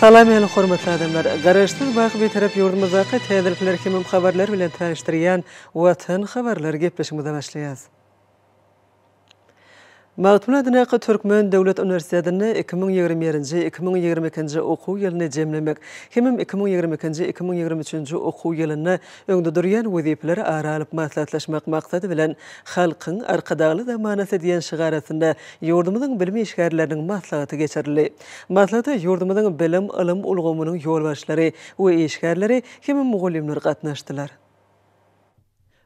Salam ýaly hormatly adamlar! Garaşsyz baky Bitarap ýurdumyzdaky täzelikler hemem habarlar bilen tanyşdyrýan Watan habarlary gepleşigimize başlaýas. Magtymguly adyndaky Türkmen döwlet uniwersitetinde iki müň ýigrimi birinji, iki müň ýigrimi ikinji okuw ýylyny jemlemek hemem iki müň ýigrimi ikinji, iki müň ýigrimi üçünji okuw ýylynda öňde durýan wezipeleri ara alyp maslahatlaşmak maksady bilen Halkyň Arkadagly zamanasy diýen şygar astynda ýurdumyzyň bilim işgärleriniň maslahaty geçirildi. Maslahata ýurdumyzyň bilim, ylym ulgamynyň ýolbaşçylary we işgärleri hem-de mugallymlar gatnaşdylar.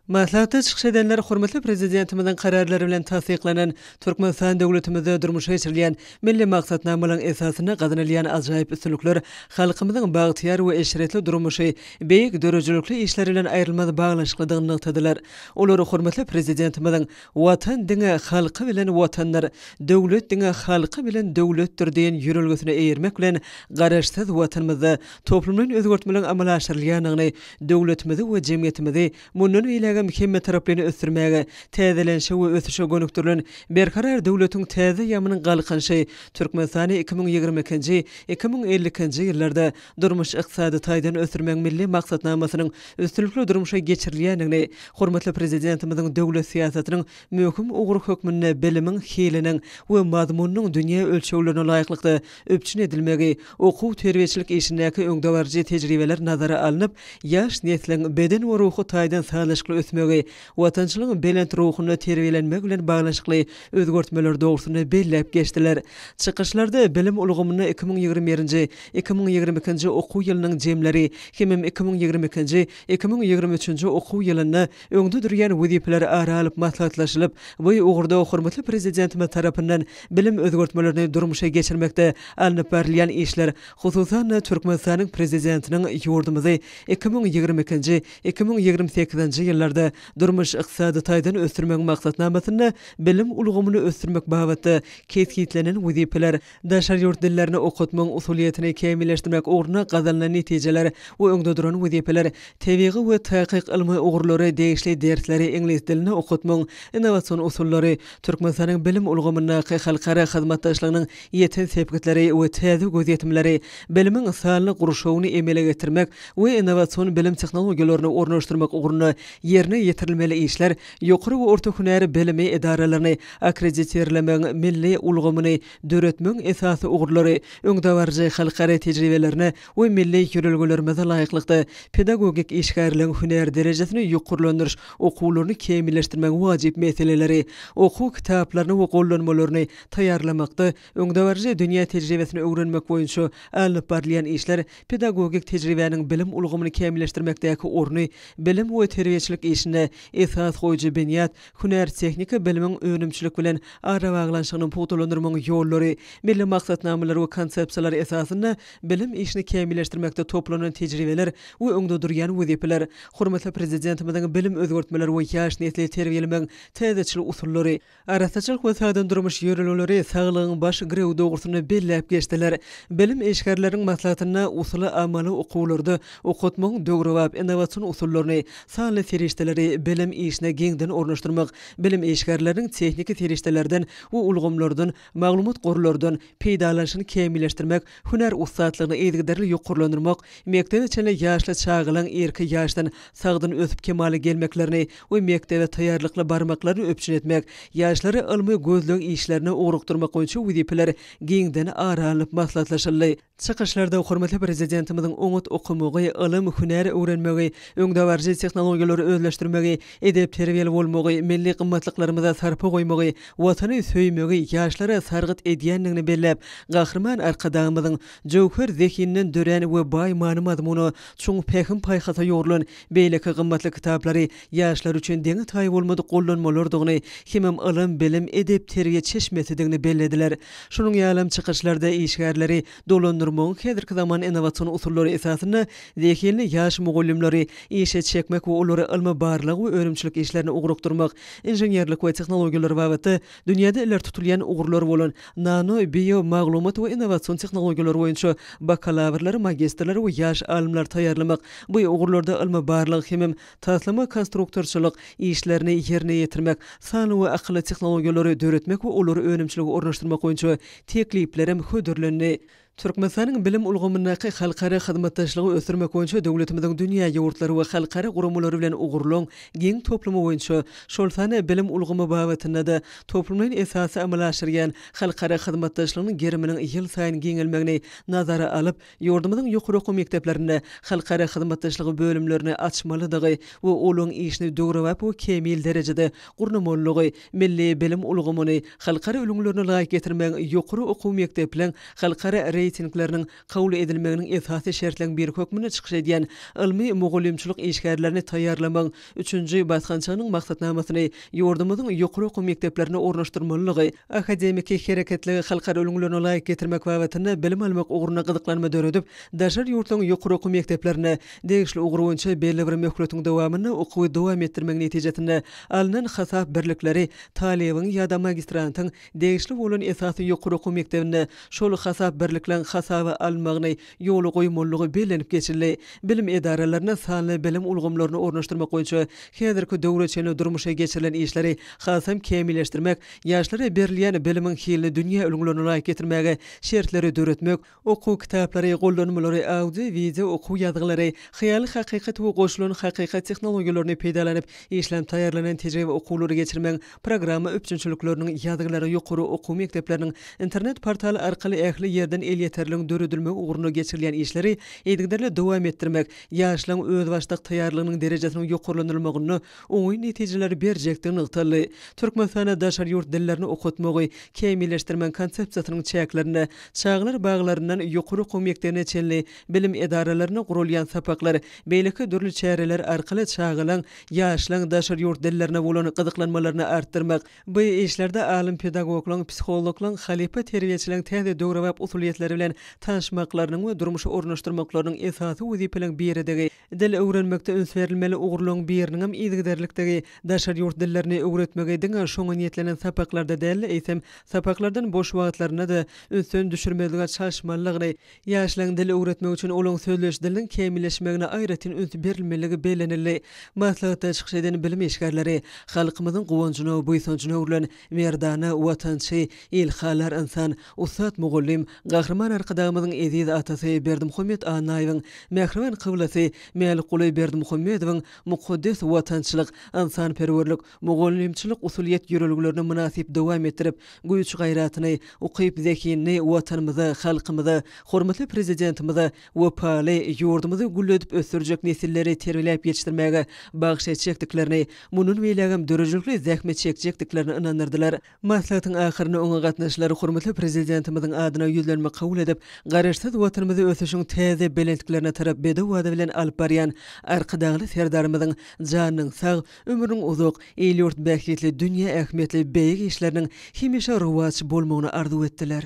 Maslahatda çykyş edenler hormatly Prezidentimiziň Kararlary bilen tassyklanan Türkmenistan döwletimizde durmuşa geçirilýän milli maksatnamalaryň esasynda gazanylýan ajaýyp üstünlikler, halkymyzyň bagtyýar we eşretli durmuşy beýik döredijilikli işler bilen aýrylmaz baglanyşyklydygyny nygtadylar. Olar hormatly Prezidentimiziň Watan diňe halky bilen Watandyr, döwlet diňe halky bilen döwletdir diýen ýörelgesine eýermek bilen Garaşsyz Watanymyzda toplumlaýyn özgertmeleriň amala aşyrylýandygyny, döwletimizi we jemgyýetimizi mundan beýlägem hemmetaraplaýyn ösdürmäge, täzelenişe we ösüşe gönükdirilen Berkarar döwletiň täze ýamynyň galkynyşy Türkmenistany iki müň ýigrimi ikinji, iki müň elli ikinji ýyllarda durmuş-ykdysady taýdan ösdürmegiň milli maksatnamasynyň üstünlikli durmuşa geçirilýändigini, hormatly Prezidentimiziň döwlet syýasatynyň möhüm ugry hökmünde bilimiň hiliniň we mazmunynyň dünýä ölçeglerine laýyklykda üpjün edilmegi, okuw-terbiýeçilik işindäki öňdebaryjy tejribeler nazara alnyp, ýaş nesliň beden we ruhy taýdan sazlaşykly ösmegi, watançylygyň belent ruhunda terbiýelenmegi bilen baglanyşykly özgertmeler dogrusynda belläp geçdiler. Çykyşlarda bilim ulgamynda iki müň ýigrimi birinji, iki müň ýigrimi ikinji okuw ýylynyň jemleri hemem iki müň ýigrimi ikinji, iki müň ýigrimi üçünji okuw ýylynda öňde durýan wezipeler ara alyp maslahatlaşylyp, bu ugurda hormatly Prezidentimiz tarapyndan bilim özgertmelerini durmuşa geçirmekde alnyp barylýan işler, hususan-da, Türkmenistanyň Prezidentiniň ýurdumyzy iki müň ýigrimi ikinji, Iki müň ýigrimi sekizinji ýyllarda durmuş-ykdysady taýdan ösdürmegiň maksatnamasynda bilim ulgamyny ösdürmek babatda kesgitlenen wezipeler, daşary ýurt dillerini okatmagyň usulyýetini kämilleşdirmek ugrunda gazanylan netijeler we öňde duran wezipeler, tebigy we takyk ylmy ugurlary, degişli dersleri iňlis dilinde okatmagyň innowasion usullary, Türkmenistanyň bilim ulgamyndaky halkara hyzmatdaşlygynyň ýeten sepgitleri we täze gözýetimleri, bilimiň sanly gurşawyny emele getirmek we innowasion bilim tehnologiýalaryny ornaşdyrmak ugrunda ýerine ýetirilmeli işler ýokary we orta hünär bilimi edaralaryny akkreditirlemegiň milli ulgamyny döretmegiň esasy ugurlary öňdebaryjy halkara tejribelerine we milli ýörelgelerimize laýyklykda pedagogik işgärligiň hünär derejesini ýokarlandyryş okuwlaryny kämilleşdirmegiň wajyp meseleleri, okuw kitaplaryny we gollanmalaryny taýýarlamakda öňdebaryjy dünýä tejribesini öwrenmek boýunça alnyp barylýan işler, pedagogik tejribäniň bilim ulgamyny kämilleşdirmekdäki orny, bilim we terbiýeçilik işinde esas goýujy binýat, hünär-tehniki bilimiň önümçilik bilen arabaglanyşygyny pugtalandyrmagyň ýollary, milli maksatnamalar we konsepsiýalar esasynda bilim işini kämilleşdirmekde toplanan tejribeler we öňde durýan wezipeler, hormatly Prezidentimiziň bilim özgertmeleri we ýaş nesli terbiýelemegiň täzeçil usullary, Arassaçylyk we sada durmuş ýörelgeleri saglygyň baş girewi dogrusynda belläp geçdiler. Bilim işgärleriniň maslahatynda usuly-amaly okuwlarda okatmagyň döwrebap innowasion usullaryny, sanly serişdeleri bilim işine giňden ornaşdyrmak, bilim işgärleriniň tehniki serişdelerden we ulgamlardan, maglumat gorlardan, peýdalanyşyny kämilleşdirmek, hünär ussatlygyny yzygiderli ýokarlandyrmak, mekdebe çenli ýaşly çagalaryň erki ýaşdan sagdyn ösüp kemala gelmeklerini, we mekdebe taýýarlykly barmaklaryny üpjün etmek, ýaşlary ylmy gözleg işlerine ugrukdyrmak boýunça wezipeler giňden ara alnyp maslahatlaşyldy. Çykyşlarda hormatly Prezidentimiziň oňat okamagy, ylym, hünär öwrenmegi, öňdebaryjy tehnologiýalary özleşdirmegi, edep-terbiýeli bolmagy, milli gymmatlyklarymyza sarpa goýmagy, Watany söýmegi ýaşlara sargyt edýändigini belläp, Gahryman Arkadagymyzyň jöwher zehininden dörän we baý many-mazmuna, çuň pähim-paýhasa ýugrulan Beýleki gymmatly kitaplary ýaşlar üçin deňi-taýy bolmadyk gollanmalardygyny hemem ylym, bilim, edep, terbiýe çeşmesidigini bellediler. Şunuň ýalam çykyşlarda işgärleri dolandyrmagyň häzirki zaman innowasion usullary esasynda zehinli ýaş mugallymlary işe çekmek we olary ylmy-barlag we önümçilik işlerine ugrukdyrmak, inženerlik we tehnologiýalar babatda Dünýäde ileri tutulýan ugurlar bolan nano, bio, maglumat we innowasion tehnologiýalar boýunça bakalawrlary, magistrleri we ýaş alymlary taýýarlamak, bu ugurlarda ylmy-barlag hemem taslama-konstruktorçylyk işlerini ýerine ýetirmek, sanly we akylly tehnologiýalary döretmek we olary önümçilige ornaşdyrmak boýunça tekliplerem hödürlendi. Türkmenistanyň bilim ulgamyndaky halkara hyzmatdaşlygy ösdürmek boýunça döwletimiziň dünýä ýurtlary we halkara guramalary bilen ugurlaryň giň toplumy boýunça, şol sanda bilim ulgamy babatynda-da toplumlaýyn esasda amala aşyrýan halkara hyzmatdaşlygynyň geriminiň ýylsaýyn giňelmegini nazara alyp, ýurdumyzyň ýokary okuw mekdeplerinde halkara hyzmatdaşlygy bölümlerini açmalydygy we olaryň işini döwrebap we kämil derejede gurnamalydygy Milli bilim ulgamyny halkara ülňülerine laýyk getirmegiň ýokary okuw mekdepleriň halkara reýtingleriniň kabul edilmeginiň esasy şertleň biri hökmünde çykyş edýän ylmy mugallymçylyk işgärlerini taýýarlamagyň üçünji basgançagynyň maksatnamasyny ýurdumyzyň ýokary okuw mekdeplerine ornaşdyrmalylygy, akademiki hereketligi halkara ülňülerine laýyk getirmek babatynda bilim almak ugrunda gyzyklanma döredip, daşary ýurtlaryň ýokary okuw mekdeplerine Degişli ugur boýunça belli bir möhletiň dowamynda okuwy dowam etdirmek netijesinde alnan hasap birlikleri talybyň ýa-da magistrantyň degişli bolan esasy ýokary okuw mekdebinde şol hasap birlikleň hasaba alynmagyny ýola goýmalydygy bellenip geçildi. Bilim edaralaryna sanly bilim ulgamlaryny ornaşdyrmak boýunça häzirki döwre çenli durmuşa geçirilen işleri hasam kämilleşdirmek, ýaşlara berilýän bilimiň hilini dünýä ülňülerine laýyk getirmäge şertleri döretmek, Okuw kitaplary, gollanmalary, audio, wideo okuw ýazgylary, hyýaly hakykat we goşulan hakykat tehnologiýalaryny peýdalanyp işlenip taýýarlanan tejribe okuwlary geçirmegiň programma üpjünçilikleriniň ýazgylary ýokary okuw mekdepleriniň internet portaly arkaly ähli ýerden elýeterligiň döredilmegi ugrunda geçirilýän işleri yzygiderli dowam etdirmek ýaşlaryň özbaşdak taýýarlygynyň derejesiniň ýokarlandyrylmagynda oňyn netijeleri berjekdigi nygtaldy. Türkmenistanda daşary ýurt dillerini okatmagy kämilleşdirmegiň konsepsiýasynyň çäklerinde çagalar baglaryndan ýokary okuw mekdebine çenli bilim edaralarynda guralýan sapaklar, beýleki dürli çäreler arkaly çagalaň, ýaşlaň daşary ýurt dillerine bolan gyzyklanmalaryny artdyrmak, bu işlerde alym-pedagoglaň, psihologlaň, halypa terbiýeçileriň täze döwrebap usulyýetleri bilen tanyşmaklarynyň we durmuşa ornaşdyrmaklarynyň esasy wezipeleriň biridigi Dil öwrenmekde üns berilmeli ugurlaryň biriniňem yzygiderlikdigi, daşary ýurt dillerini öwretmegi diňe şoňa niýetlenen sapaklarda däl-de, eýsem, sapaklardan boş wagtlarynda-da ünsden düşürmezlige çalyşmalydygyny, ýaşlaryň dil öwretmek üçin olaryň sözleýiş diliniň kämilleşmegine aýratyn üns berilmelidigi bellenildi. Maslahatda çykyş eden bilim işgärleri halkymyzyň guwanjyna, buýsanjyna öwrülen Merdana watançy, ilhalar ynsan, ussat mugallym Gahryman Arkadagymyzyň eziz atasy Berdimuhamet Annaýewiň, mähriban kyblasy Mälikguly Berdimuhamedowyň mukaddes watançylyk, ynsanperwerlik, mugallymçylyk usulyýet ýörelgelerini mynasyp dowam etdirip, güýç-gaýratyny, ukyp-zehinini Watanymyza, halkymyza, hormatly Prezidentimize, wepaly, ýurdumyzy gülledip ösdürjek nesilleri terbiýeläp ýetişdirmäge bagyş etjekdiklerini, mundan beýlägem döredijilikli zähmet çekjekdiklerini ynandyrdylar. Maslahatyň ahyrynda oňa gatnaşyjylar hormatly Prezidentimiziň adyna ýüzlenme kabul edip, Garaşsyz Watanymyzy ösüşiň täze belentliklerine tarap bedew wada bilen alyp barýan Arkadagly Serdarymyzyň janynyň sag, ömrüniň uzak, il-ýurt bähbitli, dünýä ähmiýetli beýik işleriniň hemişe rowaç bolmagyny arzuw etdiler.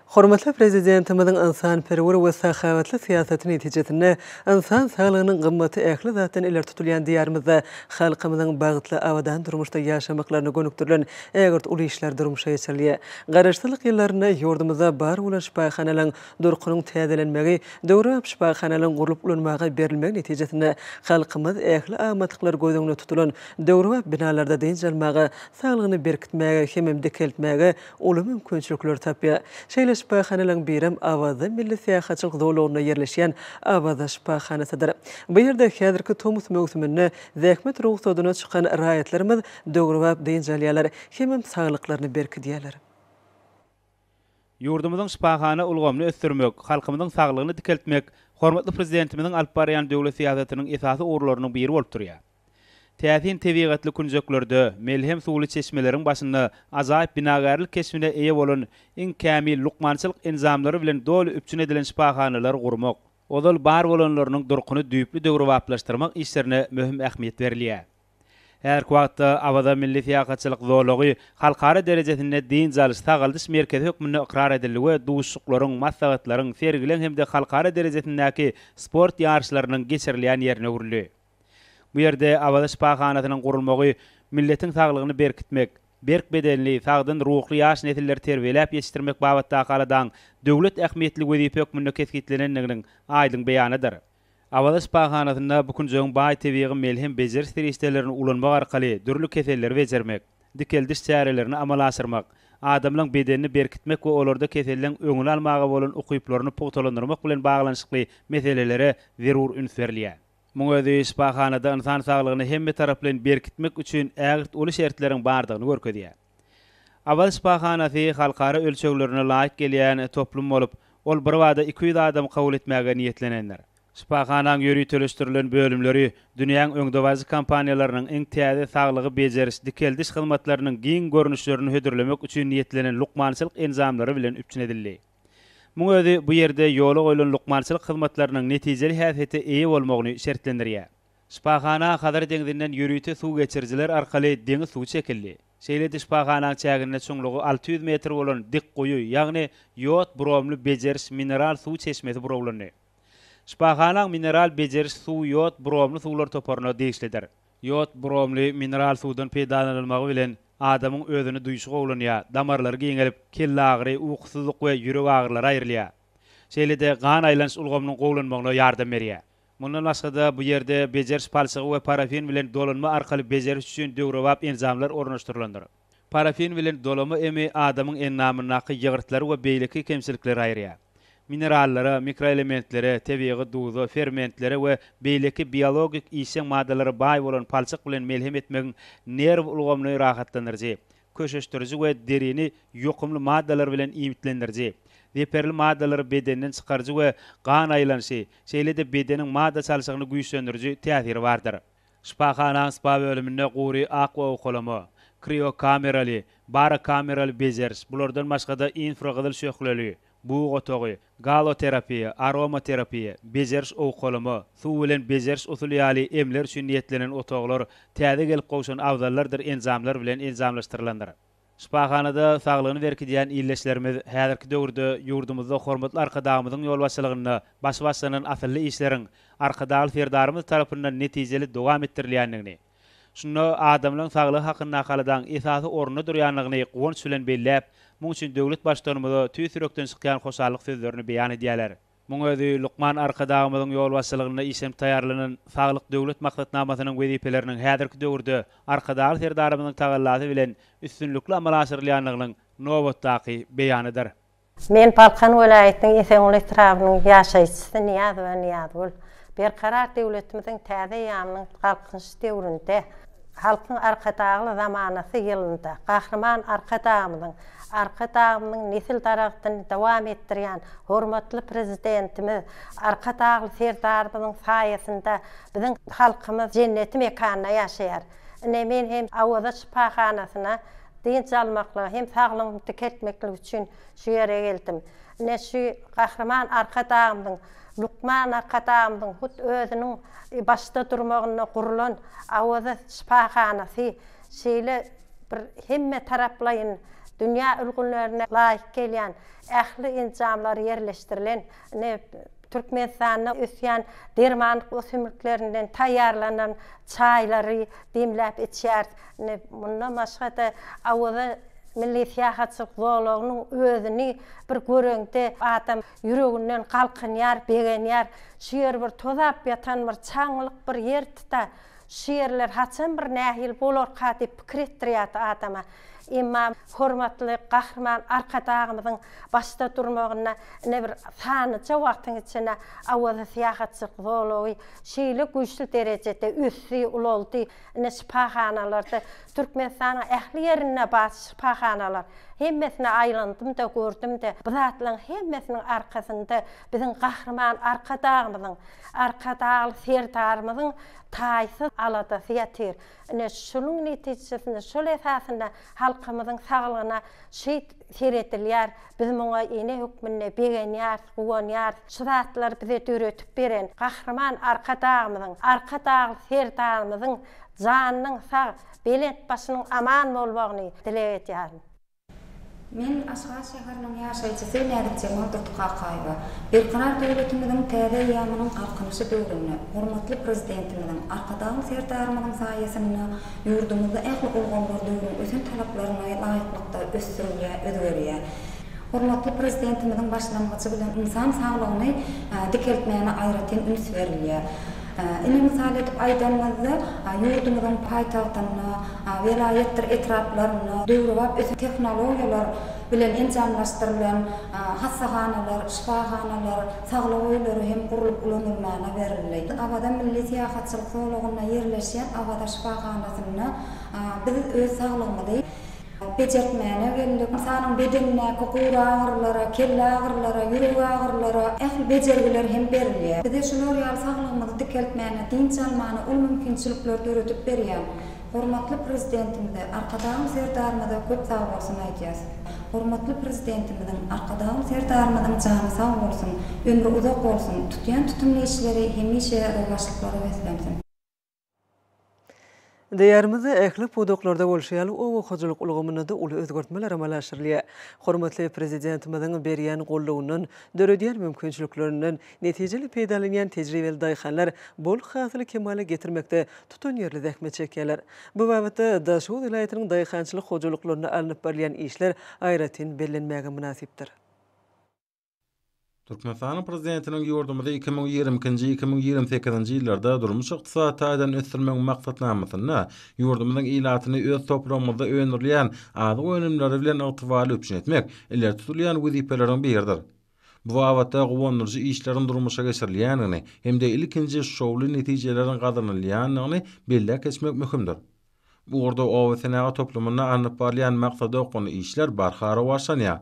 Hormatly Prezidentimiziň ynsanperwer we sahawatly syýasaty netijesinde ynsan saglygynyň gymmaty ähli zatdan ileri tutulýan Diýarymyzda halkymyzyň bagtly, abadan durmuşda ýaşamaklaryna gönükdirilen ägirt uly işler durmuşa geçirilýär. Garaşsyzlyk ýyllarynda ýurdumyzda bar bolan şypahanalaryň durkunyň täzelenmegi, döwrebap şypahanalaryň gurlup ulanmaga berilmegi netijesinde halkymyz ähli amatlyklary göz öňünde tutulan döwrebap binalarda dynç almaga, saglygyny berkitmäge hemem dikeltmäge uly mümkinçilikleri tapýar. Şeýle şypahanalaryň birem Awaza milli syýahatçylyk zolagynda ýerleşýän Awaza şypahanasydyr. Bu ýerde häzirki tomus möwsüminde zähmet rugsadyna çykan raýatlarymyz döwrebap dynç alýarlar hemem saglyklaryny berkidýärler. Ýurdumyzyň şypahana ulgamyny ösdürmek, halkymyzyň saglygyny dikeltmek hormatly Prezidentimiziň alyp barýan döwlet syýasatynyň esasy ugurlarynyň biri bolup durýar. Täsin tebigatly künjeklerde, melhem suwly çeşmeleriň başynda ajaýyp binagärlik keşbine eýe bolan iň kämil lukmançylyk enjamlary bilen doly üpjün edilen şypahanalary gurmak, ozal bar bolanlarynyň durkuny düýpli döwrebaplaşdyrmak işlerine möhüm ähmiýet berilýär. Häzirki wagtda Awaza milli syýahatçylyk zolagy halkara derejesinde dynç alyş, sagaldyş merkezi hökmünde ykrar edildi we duşuşyklaryň, maslahatlaryň, sergileň hem-de halkara derejesindäki sport ýaryşlarynyň geçirilýän ýerine öwrüldi. Bu ýerde Awaza şypahanasynyň gurulmagy milletiň saglygyny berkitmek, berk bedenli, sagdyn ruhly ýaş nesilleri terbiýeläp ýetişdirmek babatdaky aladaň döwlet ähmiýetli wezipe hökmünde kesgitlenendiginiň aýdyň beýanydyr. Awaza şypahanasynda bu künjegiň baý tebigy melhem bejeriş serişdelerini ulanmak arkaly dürli keselleri bejermek, dikeldiş çärelerini amala aşyrmak, adamlaň bedenini berkitmek we olarda keselleň öňüni almaga bolan ukyplaryny pugtalandyrmak bilen baglanyşykly meselelere zerur üns berilýär. Muň özi şypahanada ynsan saglygyny hemmetaraplaýyn berkitmek üçin ägirt uly şertleriň bardygyny görkezýär. Awaz şypahanasy halkara ölçeglerine laýyk gelýän toplum bolup, ol birbada iki ýüz adamy kabul etmäge niýetlenendir. Şypahanaň ýöriteleşdirilen bölümleri dünýäň öňdebaryjy kompaniýalarynyň iň täze saglygy bejeriş-dikeldiş hyzmatlarynyň giň görnüşlerini hödürlemek üçin niýetlenen lukmançylyk enjamlary bilen üpjün edildi. Muň özi bu ýerde ýola goýlan lukmançylyk hyzmatlarynyň netijeli häsiýete eýe bolmagyny şertlendirýär. Şypahana Hazar deňzinden ýörite suw geçirijiler arkaly deňiz suwy çekildi. Şeýle-de şypahanaň çäginde çuňlugy alty ýüz metr bolan dik guýy, ýagny ýod bromly bejeriş mineral suw çeşmesi burawlandy. Şypahanaň mineral bejeriş suwy ýod bromly suwlar toparyna degişlidir. Ýod, bromly mineral suwdan peýdalanylmagy bilen adamyň özüni duýşy gowulanýar, damarlary giňelip, kellagyry, ukusyzlyk we ýürek agyrylary aýrylýar. Şeýle-de gan aýlanyş ulgamynyň gowulanmagyna ýardam berýär. Mundan başga-da, bu ýerde bejeriş palçygy we parafin bilen dolanma arkaly bejeriş üçin döwrebap enjamlar ornaşdyrylandyr. Parafin bilen dolama emi adamyň endamyndaky ýygyrtlary we beýleki kemçilikleri aýyrýar. Minerallara, mikroelementlere, tebigy duza, fermentlere we beýleki biologik işjeň maddalara baý bolan palçyk bilen melhem etmegiň nerw ulgamyny rahatlandyryjy, köşeşdiriji we derini ýokumly maddalar bilen iýmitlendiriji, zeperli maddalary bedenden çykaryjy we gan aýlanyşy, şeýle-de bedeniň madda çalşygyny güýçlendiriji täsiri bardyr. Şypahana spa bölüminde gury akwa owkalama, kriokameraly, barokameraly bejeriş, bulardan başga-da infragyzyl şöhleli, bug otagy, galoterapiýa, aromaterapiýa, bejeriş owkalama, suw bilen bejeriş usuly ýaly emler üçin niýetlenen otaglar täze gelip gowşan abzallardyr enjamlar bilen enjamlaşdyrylandyr. Şypahanada saglygyny berkidýän ildeşlerimiz häzirki döwürde ýurdumyzda hormatly Arkadagymyzyň ýolbaşçylygynda başy başlanan asylly işleriň Arkadagly Serdarymyz tarapyndan netijeli dowam etdirilýändigini, şunda adamlaryň saglygy hakyndaky aladaň esasy orunda durýandygyny guwanç bilen belläp, muň üçin döwlet Baştutanymyza tüýs ýürekden çykýan hoşallyk sözlerini beýan edýärler. Muň özi lukman Arkadagymyzyň ýolbaşçylygynda işlenip taýýarlanan Saglyk Döwlet maksatnamasynyň wezipeleriniň häzirki döwürde Arkadagly Serdarymyzyň tagallasy bilen üstünlikli amala aşyrylýandygynyň nobatdaky beýanydyr. Men Balkan welaýatynyň Esenguly etrabynyň ýaşaýjysy Nyýazowa Nyýazgül. Berkarar döwletimiziň täze eýýamynyň Galkynyş döwründe, Halkyň Arkadagly zamanasy ýylynda Gahryman Arkadagymyzyň, Arkadagymyzyň nesil daragtyny dowam etdirýän hormatly Prezidentimiz, Arkadagly Serdarymyzyň saýasynda biziň halkymyz jenneti mekanda ýaşaýar. Ine, men hem Awaza şypahanasyna dynç almaklyga hem saglygym dikeltmeklik üçin şu ýere geldim. Ine, şu Gahryman Arkadagymyzyň Lukman Arkadagymyzyň hut özüniň başda durmagynda gurlan Awaza şypahanasy şeýle bir hemme taraplaýyn dünýä ülgünlerine laýyk gelýän ähli enjamlar ýerleşdirilen, ine, Türkmenistanda ösýän dermanlyk ösümliklerinden taýýarlanan çaýlary demläp içýäris. Ine, mundan başga-da Awaza milli syýahatçylyk zolagynyň özüni bir göreňde adam Ýüreginden galkynýar, begenýär. Şu ýer bir tozap ýatan bir çaňňylyk bir ýer tuta. Şu ýerler haçan bir nähili bolarka diýip pikir etdirýärdi adama. Emma hormatly Gahryman Arkadagymyzyň başda durmagynda ine bir sanyja wagtyň içinde Awaza syýahatçylyk zolagy şeýle güýçli derejede ösdi, ulaldy. Ine şypahanalarda Türkmenistanyň ähli ýerinde bar şypahanalar. Hemmesine aýlandym-da, gördüm-de, bu zatlaryň hemmesiniň arkasynda biziň Gahryman Arkadagymyzyň, Arkadagly Serdarymyzyň taýsyz aladasy ýatyr. Ine şunuň netijesinde, şol esasynda halkymyzyň saglygyna şeýt seredilýär. Biz muňa ene hökmünde begenýäris, guwanýarys. Şu zatlary bize döredip beren Gahryman Arkadagymyzyň, Arkadagly Serdarymyzyň janynyň sag, belent başynyň aman bolmagyny dileg edýärin. Men, Aşgabat şäheriniň ýaşaýjysy Näzikjemal Durdukakaýewa, Berkarar döwletimiziň täze eýýamynyň Galkynyşy döwründe hormatly Prezidentimiziň, Arkadagly Serdarymyzyň saýasynda Ýurdumyzda ähli ulgamlar döwrüň ösen talaplaryna laýyklykda ösdürilýär, özgerýär. Hormatly Prezidentimiziň başlangyjy bilen ynsan saglygyny dikeltmäne aýratyn üns berilýär. Ine, mysal edip aýdanymyzda, ýurdumyzyň paýtagtynda, welaýatdyr etraplarynda döwrebap ösen tehnologiýalar bilen enjamlaşdyrylan hassahanalar, şypahanalar, Saglyk öýleri hem gurlup ulanylmaga berildi. Awaza milli syýahatçylyk zolagynda ýerleşýän Awaza şypahanasynda biz öz saglygymyzy bejertmäne geldik. Ynsanyň bedenindäki gury agyrylara, kelle agyrylara, ýürek agyrylara ähli bejergiler hem berilýär. Bize şular ýaly saglygymyzy dikeltmäne, dynç almana uly mümkinçilikler döredip berýän Hormatly Prezidentimize, Arkadagym Serdarymyza köp sag bolsun aýdýas. Hormatly Prezidentimiziň, Arkadagym Serdarymyzyň jany sag bolsun, ömri uzak bolsun, tutýan tutumly işleri hemişe rowaçlyklara beslensin. Diýarymyzda ähli pudaklarda bolşy ýaly, oba hojalyk ulgamynda-da uly özgertmeler amala aşyrylýar. Hormatly Prezidentimiziň berýän goldawyndan, döredýän mümkinçiliklerinden Netijeli peýdalanýan tejribeli daýhanlar bol hasyly kemala getirmekde tutanýerli zähmet çekýärler. Bu babatda Daşoguz welaýatynyň daýhançylyk hojalyklarynda alnyp barylýan işler aýratyn bellenmäge mynasypdyr. Türkmenistanyň Prezidentiniň ýurdumyzy iki müň ýigrimi ikinji-iki müň ýigrimi sekizinji ýyllarda durmuş-ykdysady taýdan ösdürmegiň maksatnamasynda ýurdumyzyň ilatyny öz topragymyzda öndürilýän azyk önümleri bilen ygtybarly üpjün etmek ileri tutulýan wezipeleriň biridir. Bu babatda guwandyryjy işleriň durmuşa geçirilýändigini hem-de ilkinji şowly netijeleriň gazanylýandygyny belläp geçmek möhümdir. Bu ugurda obasenagat toplumynda alnyp barylýan maksadaokgunly işler barha rowaçlanýar.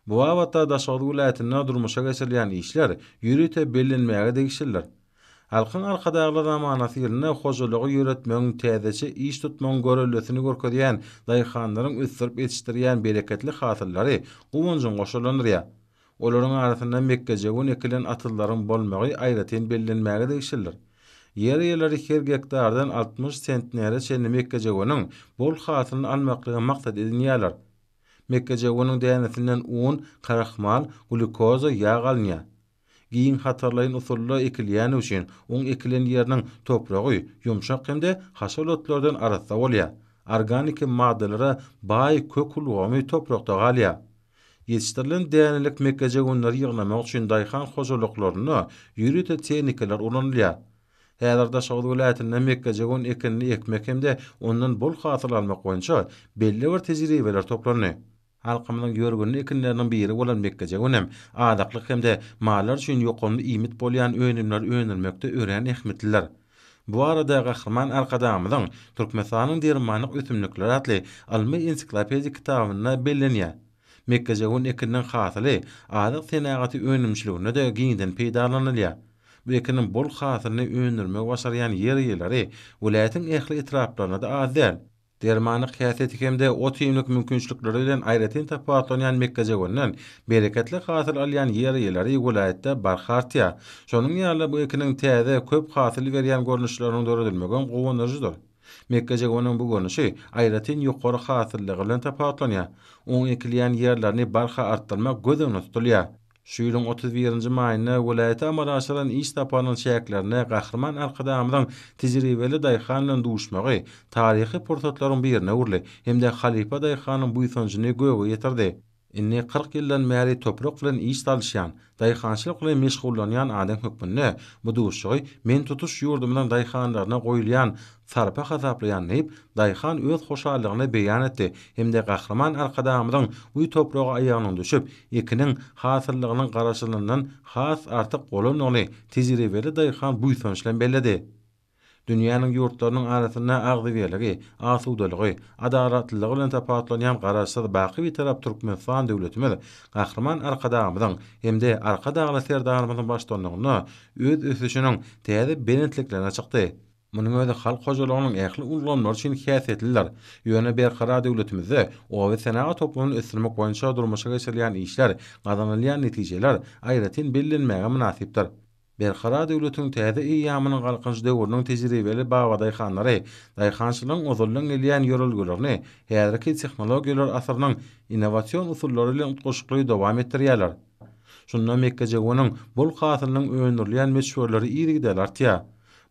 Bu babatda Daşoguz welaýatynda durmuşa geçirilýän işler ýörite bellenmäge degişlidir. Halkyň Arkadagly zamanasy ýylynda hojalygy ýöretmegiň, täzeçe iş tutmagyň görellesini görkezýän daýhanlaryň ösdürip ýetişdirýän bereketli hasyllary guwanjyň goşalandyrýar. Olaryň arasynda mekgejöwen ekilen atyzlaryň bolmagy aýratyn bellenmäge degişlidir. Ýer eýeleri her gektardan altmyş sentnere çenli mekgejöweniň bol hasylyny almaklygy maksat edinýärler. Mekgejöweniň dänesinden un, krahmal, glýukoza, ýag alynýar. Giň hatarlaýyn usulda ekilýäni üçin, oň ekilen ýeriniň topragy ýumşak hem-de haşal otlardan arassa bolýar. Organiki maddalara baý kök ulgamy toprakda galýar. Ýetişdirilen dänelik mekgejöwenleri ýygnamak üçin daýhan hojalyklarynda ýörite tehnikalar ulanylýar. Häzir Daşoguz welaýatynda mekgejöwen ekinini ekmek hem-de ondan bol hasyl almak boýunça belli bir tejribeler toplandy. Halkymyzyň ýörgünli ekinleriniň biri bolan mekgejöwen hem azyklyk hem-de mallar üçin ýokumly iýmit bolýan önümleri öndürmekde örän ähmiýetlidir. Bu barada Gahryman Arkadagymyzyň Türkmenistanyň dermanlyk ösümlikleri atly ylmy-ensiklopedik kitabynda bellenýär. Mekgejöwen ekininiň hasyly azyk senagaty önümçiliginde-de giňden peýdalanylýar. Bu ekiniň bol hasylyny öndürmegi başarýan ýer eýeleri welaýatyň ähli etraplaryna-da az däl. Dermanlyk häsiýeti hem-de ot-iýmlik mümkinçilikleri bilen aýratyn tapawutlanýan mekgejöwenden bereketli hasyl alýan ýer eýeleri welaýatda barha artýar. Şonuň ýaly bu ekiniň täze, köp hasyl berýän görnüşleriniň döredilmegem guwandyryjydyr. Mekgejöweniň bu görnüşi aýratyn ýokary hasyllygy bilen tapawutlanýar. Onuň ekilýän ýerlerini barha artdyrmak göz öňünde tutulýar. Şu ýylyň otuz birinji maýynda welaýata amala aşyrylan iş saparynyň çäklerinde Gahryman Arkadagymyzyň tejribeli daýhan bilen duşmagy taryhy pursatlaryň birine öwrüldi hem-de halypa daýhanyň buýsanjyny göge ýetirdi. Indi kyrk ýyldan bäri toprak bilen iş salyşýan, daýhançylyk bilen meşgullanýan adam hökmünde bu duşuşygy men tutuş ýurdumyzyň daýhanlaryna goýulýan sarpa hasaplaýan diýip, daýhan öz hoşallygyny beýan etdi hem-de Gahryman Arkadagymyzyň bu topraga aýagynyň düşüp, ekiniň hasyllygynyň garaşylyndan has artyk bolandygyny tejribeli daýhan buýsanç bilen belledi. Dünýäniň ýurtlarynyň arasynda agzybirligi, asudalygy, adalatlylygy bilen tapawutlanýan Garaşsyz, baky Bitarap Türkmenistan döwletimiz Gahryman Arkadagymyzyň hem-de Arkadagly Serdarymyzyň baştutanlygynda öz ösüşiniň täze belentliklerine çykdy. Munuň özi halk hojalygynyň ähli ulgamlary üçin häsiýetlidir. Ýöne berkarar döwletimizde obasenagat toplumyny ösdürmek boýunça durmuşa geçirilýän işler, gazanylýan netijeler aýratyn bellenmäge mynasypdyr. Berkarar döwletiň täze eýýamynyň Galkynyş döwrüniň tejribeli babadaýhanlary daýhançylygyň ozaldan gelýän ýörelgelerini häzirki tehnologiýalar asyrynyň innowasion usullary bilen utgaşykly dowam etdirýärler. Şunda mekgejöweniň bol hasylynyň öndürilýän möçberleri yzygiderli artýar.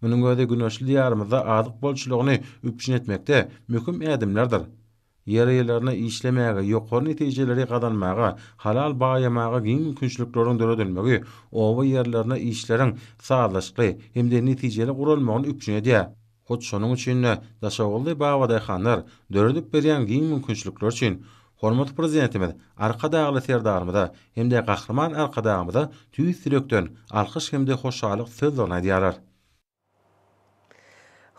Munuň özi güneşli Diýarymyzda azyk bolçulygyny üpjün etmekde möhüm ädimlerdir. Ýerýerlerine işlemäge, ýokary netijeleri gazanmaga, halal baýamaga giň mümkinçilikleriň döredilmegi oba ýerlerine işleriň sazlaşykly hem-de netijeli guralmagyny üpjün edýär. Hut şonuň üçin-de Daşoguzly babadaýhanlar döredip berýän giň mümkinçilikler üçin Hormatly Prezidentimiz Arkadagly Serdarymyza hem-de Gahryman Arkadagymyza tüýs ýürekden alkyş hem-de hoşallyk sözlerini aýdýarlar.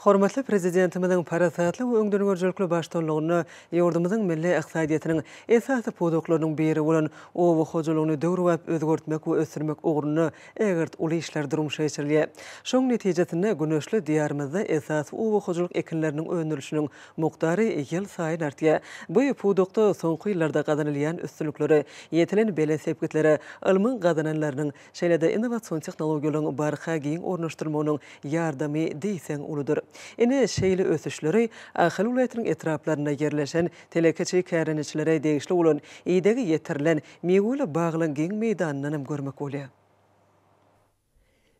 Hormatly Prezidentimiziň parasatly we öňdengörüjilikli baştutanlygynda ýurdumyzyň milli ykdysadyýetiniň esasy pudaklarynyň biri bolan oba hojalygyny döwrebap özgertmek we ösdürmek ugrunda ägirt uly işler durmuşa geçirilýär. Şonuň netijesinde güneşli Diýarymyzda esasy oba hojalyk ekinleriniň öndürilişiniň mukdary ýylsaýyn artýar. Bu pudakda soňky ýyllarda gazanylýan üstünliklere, ýetilen belent sepgitlere ylmyň gazananlarynyň, şeýle-de innowasion tehnologiýalaryň barha giň ornaşdyrylmagynyň ýardamy diýseň uludyr. Ine, şeýle ösüşleri Ahal welaýatynyň etraplarynda ýerleşen telekeçi kärendeçilere degişli bolan idegi ýetirilen miweli baglaryň giň meýdanyndan hem görmek bolýar.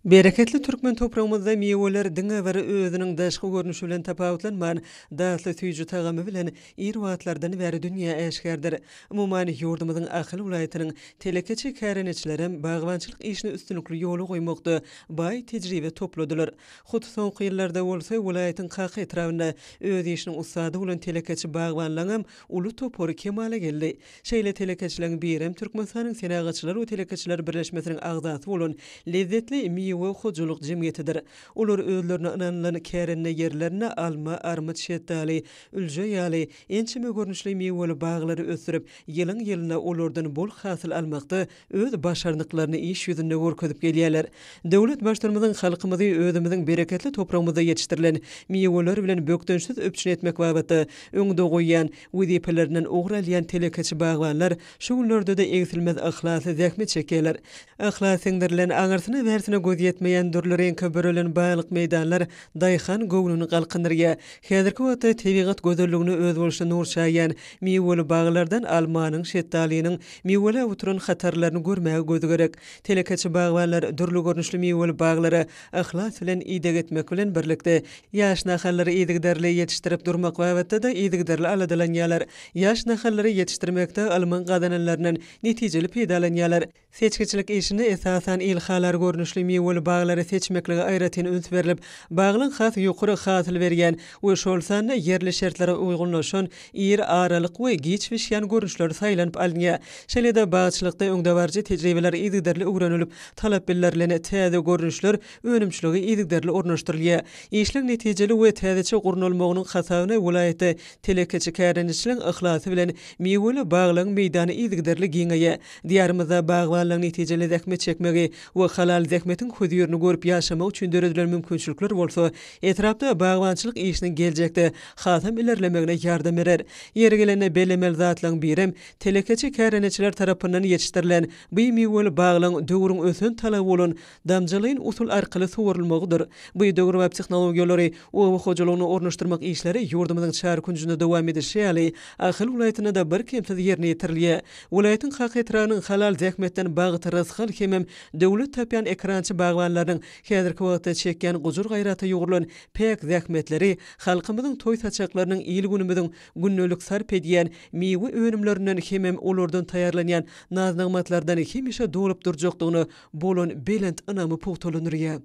Bereketli türkmen topragymyzda miweler diňe bir özüniň daşky görnüşi bilen tapawutlanman, datly süýji tagamy bilen ir wagtlardan bäri dünýä äşgärdir. Umuman, ýurdumyzyň Ahal welaýatynyň telekeçi kärendeçilerem bagbançylyk işini üstünlikli ýola goýmakda baý tejribe topladylar. Hut soňky ýyllarda bolsa welaýatyň Kaka etrabynda öz işiniň ussady bolan telekeçi bagbanlaňam uly topary kemala geldi. Şeýle telekeçileriň birem Türkmenistanyň Senagatçylar we telekeçiler birleşmesiniň agzasy bolan Lezzetli miwe hojalyk jemgyýetidir. Olar özlerine ynanylan kärende ýerlerinde alma, armyt, şetdaly, ülje ýaly ençeme görnüşli miweli baglary ösdürip, ýylyň-ýylyna olardan bol hasyl almakda öz başarnyklaryny iş ýüzünde görkezip gelýärler. Döwlet Baştutanymyzyň halkymyzy özümiziň bereketli topragymyzda ýetişdirilen miweler bilen bökdençsiz üpjün etmek babatda öňde goýýan wezipelerinden ugur alýan telekeçi bagbanlar şu günlerde-de egsilmez yhlasly zähmet çekýärler. Yhlas siňdirilen, aňyrsyna-bärsine göz ýetmeýän dürli reňke bürelen baýlyk meýdanlar daýhan göwnüni galkyndyrýar. Häzirki wagtda tebigat gözelligine özboluşly nur çaýýan Miweli baglardan almanyň, şetdalynyň miweläp oturan hatarlaryny görmäge göz gerek. Telekeçi bagbanlar dürli görnüşli miweli baglara yhlas bilen ideg etmek bilen birlikde, ýaş nahallary yzygiderli ýetişdirip durmak babatda-da yzygiderli aladalanýarlar. Ýaş nahallary ýetişdirmekde ylmyň gazananlaryndan netijeli peýdalanýarlar. Seçgiçilik işinde esasan ilhalar görnüşli miweli baglary seçmeklige aýratyn üns berlip, baglyň has ýokary hasyl berýän we şol sanda ýerli şertlere uýgunlaşan ir aralyk we giç bişýän görnüşleri saýlanyp alynýar. Şeýle-de bagçylykda öňdebaryjy tejribeler yzygiderli öwrenilip, talap bildirilen täze görnüşler önümçilige yzygiderli ornaşdyrylýar. Işleň netijeli we täzeçe gurnalmagynyň hasabyna welaýatda telekeçi kärendeçiligiň yhlasy bilen miweli baglaryň meýdany yzygiderli giňeýär. Diýarymyzda bagbanlaryň netijeli zähmet çekmegi we halal zähmetiň hözirini görüp ýaşamagy üçin döredilen mümkinçilikler bolsa etrapda bagbançylyk işiniň geljekde hasam ilerlemegine ýardam berer. Ýeri gelende bellemeli zatlaryň birem, telekeçi kärendeçiler tarapyndan ýetişdirilen bu miweli baglaryň döwrüň ösen talaby bolan damjalaýyn usul arkaly suwarylmagydyr. Biodöwrebap tehnologiýalary oba hojalygyna ornaşdyrmak işleri ýurdumyzyň çar künjünde dowam edişi ýaly, Ahal welaýatynda-da birkemsiz ýerine ýetirilýär. Welaýatyň Kaka etrabynyň Halal zähmetden bagt, rysgal hemem döwlet tapýan ekrançy bagbanlarynyň häzirki wagtda çekýän gujur-gaýrata ýugrulan päk zähmetleri halkymyzyň toý-saçaklarynyň, il-günümiziň gündelik sarp edýän miwe önümlerinden hemem olardan taýýarlanýan naz-nygmatlardan hemişe dolup durjakdygyna bolan belent ynamy pugtalandyrýar.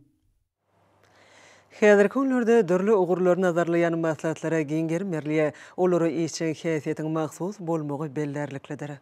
Häzirki günlerde dürli ugurlary nazarlaýan maslahatlara giň gerim berilýär, olara işjeň häsiýetiň mahsus bolmagy bellärliklidir.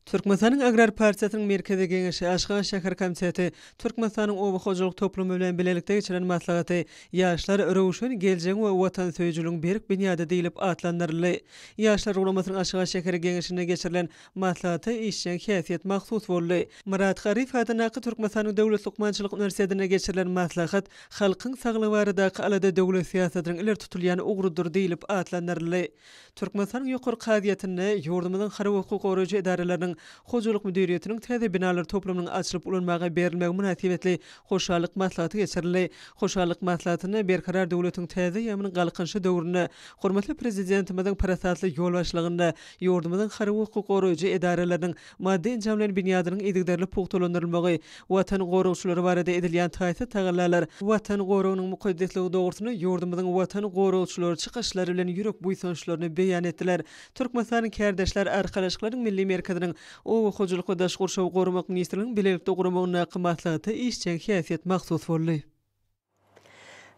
Türkmenistanyň Agrar partiýasynyň Merkezi Geňeşi, Aşgabat şäher komiteti, Türkmenistanyň Oba hojalyk toplumy bilen bilelikde geçiren maslahaty Ýaşlar, röwşen geljegiň we watansöýüjiligiň berk binýady diýlip atlandyryldy. Ýaşlar guramasynyň Aşgabat şäheri Geňeşinde geçirilen Maslahata işjeň häsiýet mahsus boldy. Myrat Garyf adyndaky Türkmenistanyň Döwlet lukmançylyk uniwersitetinde geçirilen maslahat Halkyň saglygy baradaky alada döwlet syýasatynyň ileri tutulýan ugrudyr diýlip atlandyryldy. Türkmenistanyň Ýokary kazyýetinde ýurdumyzyň harby hukuk goraýjy edaralarynyň hojalyk müdiriýetiniň täze binalary toplumynyň açylyp ulanmaga berilmegi mynasybetli hoşallyk maslahaty geçirildi. Hoşallyk maslahatynda Berkarar döwletiň täze eýýamynyň Galkynyşy döwründe hormatly Prezidentimiziň parasatly ýolbaşçylygynda Ýurdumyzyň harby-hukuk goraýjy edaralarynyň maddy-enjam bilen binýadynyň yzygiderli pugtalandyrylmagy, Watan goragçylary barada edilýän taýsyz tagallalar, Watan goragynyň mukaddesligi dogrusynda ýurdumyzyň Watan goragçylary çykyşlary bilen ýürek buýsançlaryny beýan etdiler. Türkmenistanyň Kärdeşler arkalaşyklarynyň milli merkeziniň Oba hojalyk we daş gurşawy goramak ministrliginiň bilelikde guramagyndaky maslahata işjeň häsiýet mahsus boldy.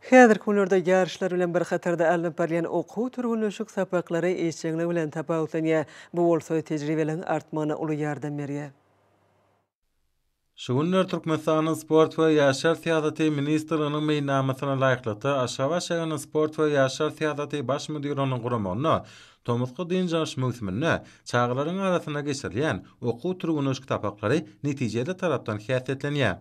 Häzirki günlerde ýaryşlar bilen bir hatarda alnyp barylýan okuw-türgenleşik sapaklary işjeňlik bilen tapawutlanýar, bu bolsa tejribeligiň artmagyna uly ýardam berýär. Şu günler Türkmenistanyň Sport we ýaşlar syýasaty ministrliginiň meýilnamasyna laýyklykda Aşgabat şäheriniň Sport we ýaşlar syýasaty baş müdirliginiň guramagynda tomusky dynç alyş möwsüminde çagalaryň arasynda geçirilýän okuw-türgenleşik sapaklary netijeli tarapdan häsiýetlenýär.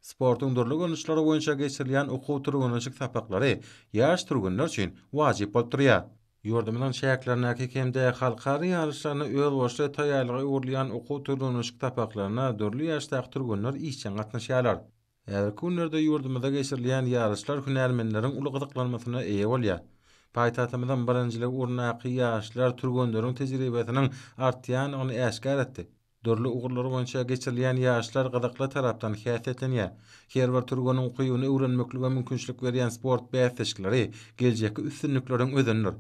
Sportuň dürli görnüşleri boýunça geçirilýän okuw-türgenleşik sapaklary ýaş türgenler üçin wajyp bolup durýar. Ýurdumyzyň çäklerindäki hem-de halkara ýaryşlaryna özboluşly taýýarlyga öwrülýän okuw-türgenleşik sapaklaryna dürli ýaşdaky türgenler işjeň gatnaşýarlar. Häzirki günlerde ýurdumyzda geçirilýän ýaryşlar hünärmenleriň uly gyzyklanmasyna eýe bolýar. Paýtagtymyzyň birinjilik ugrundaky ýaşlar türgenleriň tejribesiniň artýandygyny äşgär etdi. Dürli ugurlar boýunça geçirilýän ýaşlar gyzykly tarapdan häsiýetlenýär. Her bir türgeniň ukybyny öwrenmeklige mümkinçilik berýän sport bäsleşikleri geljekki üstünlikleriň özenidir.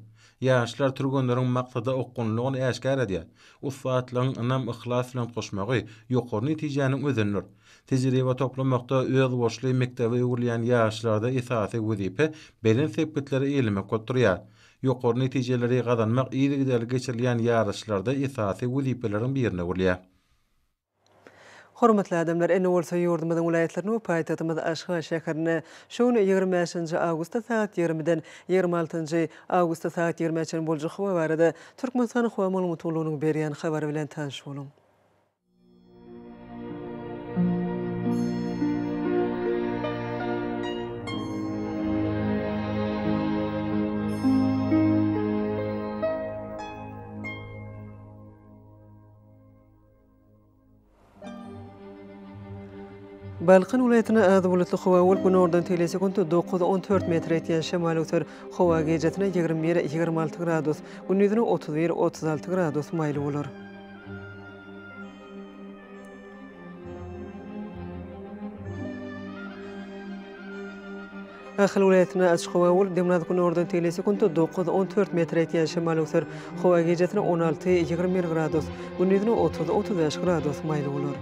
Ýaşlar türgenleriň maksada okgunlylygyny äşgär edýär. Ussatlygyň ynam, yhlas bilen goşmagy ýokary netijäniň özenidir. Tejribe toplamakda özboluşly mekdebe öwrülýän ýaşlarda esasy wezipe belent sepgitleri eýelemek bolup durýar. Ýokary netijeleri gazanmak yzygiderli geçirilýän ýaryşlarda esasy wezipeleriň birine öwrülýär. Hormatly adamlar, indi bolsa ýurdumyzyň welaýatlaryny we paýtagtymyz Aşgabat şäherini şu gün ýigrimi bäşinji awgustda sagat ýigrimiden ýigrimi altynjy awgustda sagat ýigrimä çenli boljak howa barada Türkmenistanyň Howa maglumat gullugynyň berýän habary bilen tanyş boluň. Balkan welaýatynda az bulutly howa bolup, günordan tegelýän sekuntda dokuz, on dört metr etýän şemal öser. Howa gijasine ýigrimi bir, ýigrimi alty gradus, gündiziň otuz bir, otuz alty gradus maýyl bolar. Ahal welaýatynda açyk howa bolup, demirgaz-günordan tegelýän sekunta dokuz, on dört metre etýän şemal öwser. Howa gijesine on alty, ýigrimi bir gradus, gündizine otuz, otuz bäş gradus maýyl bolar.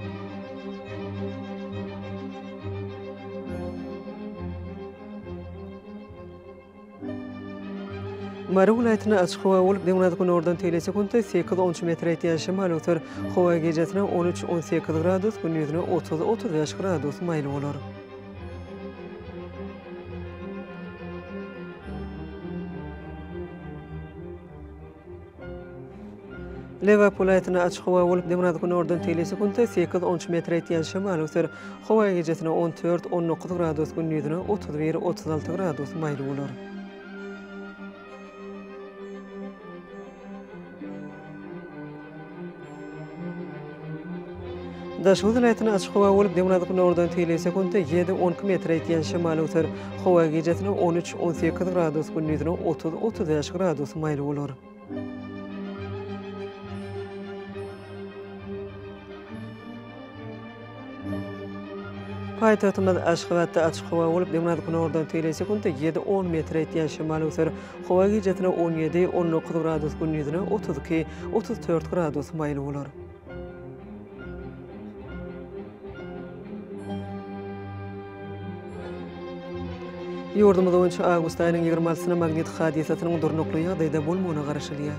Mary welaýatyna açyk howa bolup, demirgazyk-günordan tegelejek günde sekiz onunçy metre ýetýän şemal öter. Howa gijesine on üç, on sekiz gradus, gündizine otuz, otuz bäş gradus maýyl bolar. Lebap welaýatynda açyk howa bolup, demirgazyk günordan teýli sekuntda sekiz onç metr etýän şemal öser. Howa gijesine on dört, on dokuz gradus, gündizine otuz bir, otuz alty gradus maýyl bolar. Daşoguz welaýatynda açyk howa bolup, döwran günordan teýleý sekuntda ýedi, on iki metre ýetýän şemal öwser. Howa gijesine on üç, on sekiz gradus, gündizine otuz, otuz bäş gradus maýyl bolar. Paýtagtymyz Aşgabatda açyk howa bolup, demirgazyk-günordan tegelek sekuntda ýedi, on metre ýetýän şemal öser. Howa gijesine on ýedi, on dokuz gradus, gündizine otuz iki, otuz dört gradus maýyl bolar. Ýurdumyz boýunça awgust aýynyň ýigrimi altysyna magnit hadysasynyň durnukly ýagdaýda bolmagyna garaşylýar.